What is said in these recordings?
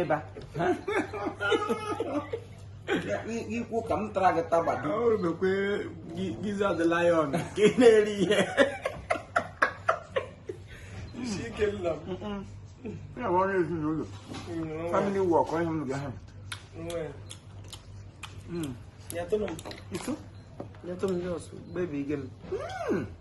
ịba ikwu ka m tara gị tagbado ọrụbekwe giza the lion ka ị na-eri ihe isi ike nna m ya bụ ọrụ ezinụlọ family work onye m ga ha nyetụrụ m nyetụ m ndị ọsụ bebi gị m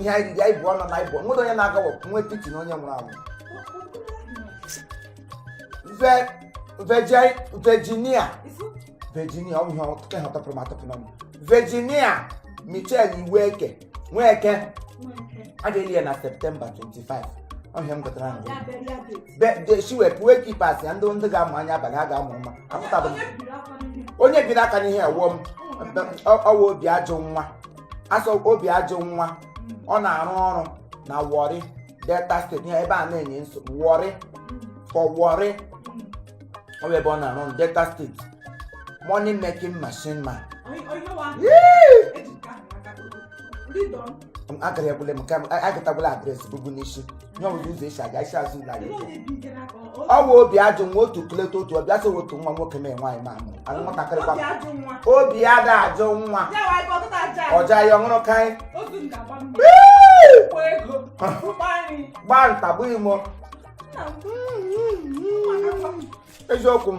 ihe anyị ndị anyị bụ ọnụ na anyị bụ nwere onye na-agawapụ nwa etiti na onye nwụrụ anwụ Ve- veje- Virginia Virginia ọ bụ ihe ọtụtụ ihe ọtọpụrụ m atọpụ n'ọnụ Virginia Michelle Iweke Nweke a ga-eli ya na Septemba 25 ọ ihe m gụtara na Ya bụ ya bụ eti. Be- de- si wee wake keepers ya ndị ndị ga-amụ anya abalị ha ga-amụ mma apụtabụ m Onye biri aka n'ihe? onye biri aka n'ihe ewuo m ọ wụ Obiajụnwa a sị Obiajụnwa ọ na-arụ ọrụ na Warri Delta State ya ebe a na-enye nsogbu worry for Warri ọ bụ ebe ọ na-arụ ọrụ Delta State money making machine man Yee! agara egbule m ka m- a- agatagbula address bubu n'isi ihe ọbụla ụzọ esi aga isi azụ ụlọ anyị ọ bụ Obiajụnwa otu kleta otu ọbịa sị otu nwa nwoke mee nwaanyị ma amụ anụ nwatakịrị kwa obi ya da ajụ nwa ọja ya ọ wụrụ ka ị gbaa nta gbuo imo eziokwu m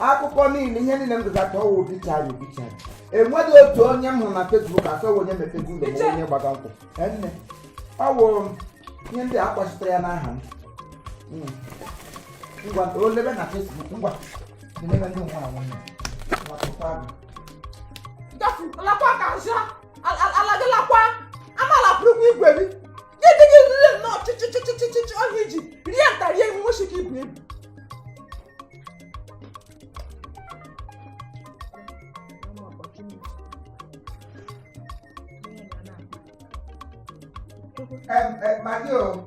akụkọ niile ihe niile m gụzata ọ wụ obituary obituary enweghị otu onye m hụrụ na Facebook asọghị onye mepego ụlọ ma onye gbaga nkwụ enne ọ wụrụ m ihe ndị a kpọchitere ya n'aha m Mm. ngwa o lebe na Facebook ngwa lebe ndị na-anwụ ya lapụta gị Gafu, lakwa ka nsa. Ala gị lakwa. Ama lapụrụ ụgwọ igwe gị. ga-edenye rire nnọọ chịchịchịchịchịchị ọhịa iji rie nta rie imo nwochi ka ibu ebu Em, em, Maggie o.